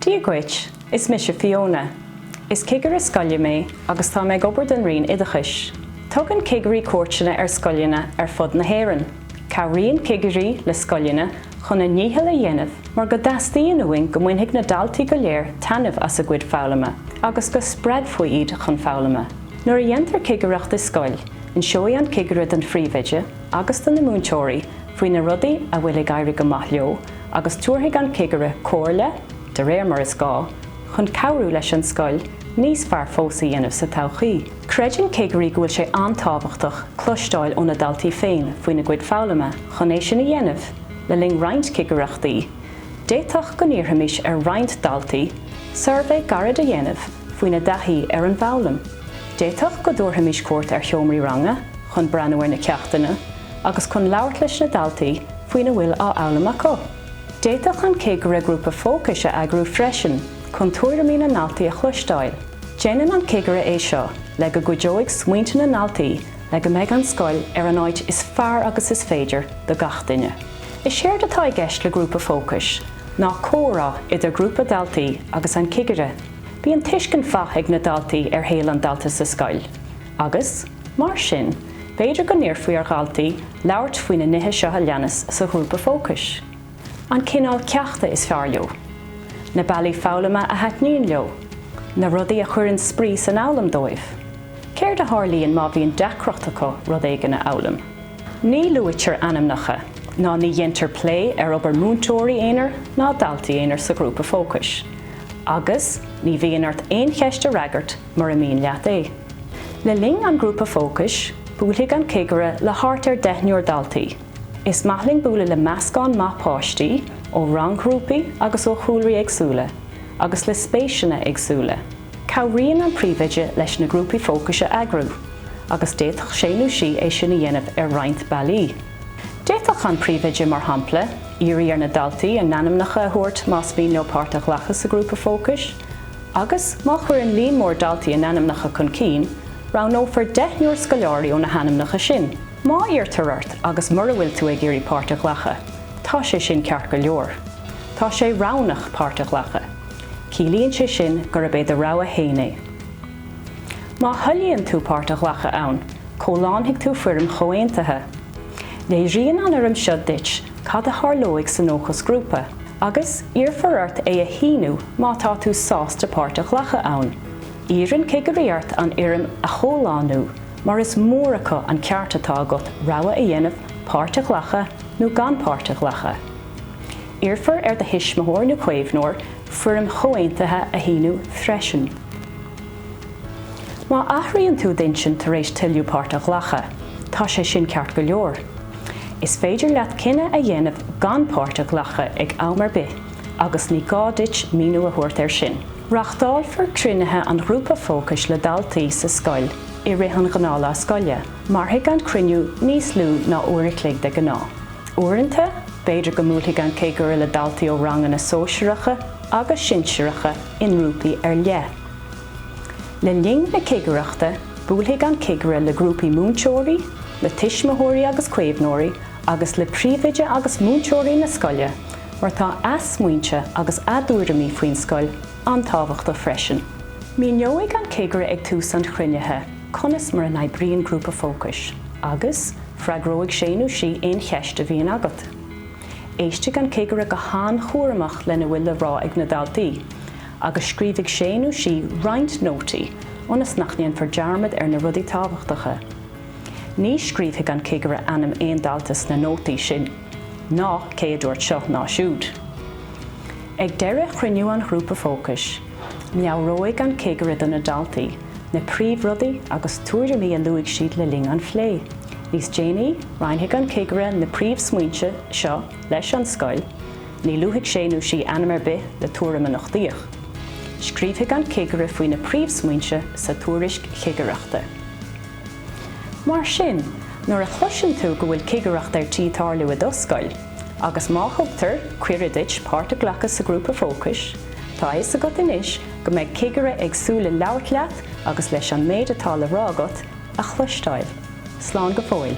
Dia dhuit, is mise Fiona. Is cigire scoile mé agus táim ag obair don Roinn Oideachais. Tugann cigirí cuairteanna ar scoileanna ar fud na hÉireann. Cabhraíonn cigirí le scoileanna chun a ndícheall a dhéanamh mar go dteastaíonn uainn go mbainfidh na daltaí go léir taitneamh as a gcuid foghlama agus go spreagfaí iad chun foghlama. Nuair a dhéantar cigireacht i scoil, inseoidh an cigire don phríomhoide, agus do na múinteoirí faoi na rudaí a bhfuil ag éirí go maith leo agus tabharfaidh an cigire comhairle, de réir mar is gá, chun cabhrú leis an scoil níos fearr fós a dhéanamh sa todhchaí. Creideann cigirí go bhfuil sé an-tábhachtach cloisteáil ó na daltaí féin faoina gcuid foghlama chun é sin a dhéanamh le linn roinnt cigireachtaí, d'fhéadfadh go n-iarrfaimis ar roinnt daltaí suirbhé gairid a dhéanamh faoina dtaithí ar an bhfoghlaim, d'fhéadfadh go dtabharfaimis cuairt ar sheomraí ranga, chun breathnú ar na ceachtanna agus chun labhairt leis na daltaí faoina bhfuil á fhoghlaim acu. D'fhéadfadh an cigire grúpa fócais a eagrú freisin chun tuairimí na ndaltaí a chloisteáil. Déanann an cigire é seo le go gcuideoidh smaointe na ndaltaí le go mbeidh an scoil ar an áit is fearr agus is féidir do gach duine. Is éard atá i gceist le grúpa fócais ná comhrá idir grúpa daltaí agus an cigire. Bíonn tuiscint mhaith ag na daltaí ar shaol an dalta sa scoil. agus, mar sin, b'fhéidir go n-iarrfaí ar dhaltaí labhairt faoi na nithe seo a leanas sa ghrúpa fócais, an cineál ceachta is fearr leo, na bealaí foghlama a thaitníonn leo, na rudaí a chuireann spraoi san fhoghlaim dóibh, céard a tharlaíonn má bhíonn deacracht acu rud éigin a fhoghlaim. Ní luaitear ainmneacha ná ní dhéantar plé ar obair múinteoirí aonair ná daltaí aonair sa ghrúpa fócais, agus ní bhíonn ort aon cheist a fhreagairt mura mian leat é. Le linn an ghrúpa fócais, buailfidh an cigire le thart ar deichniúr daltaí. Is maith linn bualadh le meascán maith páistí, ó rang-ghrúpaí agus ó chúlraí éagsúla, agus le spéiseanna éagsúla. Cabhraíonn an príomhoide leis na grúpaí fócais a eagrú, agus d'fhéadfadh sé nó sí é sin a dhéanamh ar roinnt bealaí. D'fhéadfadh an príomhoide, mar shampla, iarraidh ar na daltaí a n-ainmneacha a thabhairt más mian leo páirt a ghlacadh sa ghrúpa fócais, Agus, má chuireann líon mór daltaí a n-ainmneacha chun cinn, roghnófar deichniúr scoláirí ó na hainmneacha sin. Má iarrtar ort agus mura bhfuil tú ag iarraidh páirt a ghlacadh, tá sé sin ceart go leor. Tá sé roghnach páirt a ghlacadh. Ciallaíonn sé sin gurb é do rogha fhéin é. Má thoilíonn tú páirt a ghlacadh ann, comhlánfaidh tú foirm chomhaontaithe. Léiríonn an fhoirm seo duit cad a tharlóidh san fhócasghrúpa. agus iarrfar ort é a shíniú má tá tú sásta páirt a ghlacadh ann. Iarrann cigirí ort an fhoirm a chomhlánú mar is mór acu an ceart atá agat rogha a dhéanamh páirt a ghlacadh nó gan páirt a ghlacadh. Iarrfar ar do thuismitheoir nó caomhnóir foirm chomhaontaithe a shíniú freisin. Má athraíonn tú d'intinn tar éis toiliú páirt a ghlacadh, tá sé sin ceart go leor. Is féidir leat cinneadh a dhéanamh gan páirt a ghlacadh ag am ar bith agus ní gá duit míniú a thabhairt air sin. Reachtálfar cruinnithe an ghrúpa fócais le daltaí sa scoil i rith an ghnáthlá scoile. Mairfidh an cruinniú níos lú ná uair a chloig de ghnáth. Uaireanta, b'fhéidir go mbuailfidh an cigire le daltaí ó ranganna sóisearacha agus sinsireacha i ngrúpaí ar leith. Le linn na cigireachta, buailfidh an cigire le grúpaí múinteoirí, le tuismitheoirí agus caomhnóirí agus le príomhoide agus múinteoirí na scoile mar tá a smaointe agus a dtuairimí faoin scoil an-tábhachtach freisin. Míneoidh an cigire ag tús an chruinnithe conas mar a n-oibríonn grúpa fócais agus freagróidh sé nó sí aon cheist a bhíonn agat. Éistfidh an cigire go han-chúramach lena bhfuil le rá ag na daltaí agus scríobhfaidh sé nó sí roinnt nótaí ionas nach ndéanfar dearmad ar na rudaí tábhachtacha. Ní scríobhfaidh an cigire ainm aon dalta sna nótaí sin, ná cé a dúirt seo ná siúd. Ag deireadh chruinniú an ghrúpa fócais, meabhróidh an cigire do na daltaí na príomhrudaí agus tuairimí a luaigh siad le linn an phlé. Níos déanaí, roinnfidh an cigire na príomhsmaointe seo leis an scoil. Ní luafaidh sé nó sí ainm ar bith le tuairim a nochtaíodh. Scríobhfaidh an cigire faoi na príomhsmaointe sa tuairisc chigireachta. Mar sin, nuair a chloiseann tú go bhfuil cigireacht ar tí tarlú i do scoil, agus má thugtar cuireadh duit páirt a ghlacadh sa ghrúpa fócais, tá a fhios agat anois go mbeidh cigire ag súil le labhairt leat agus leis an méid atá le rá agat a chloisteáil. Slán go fóill.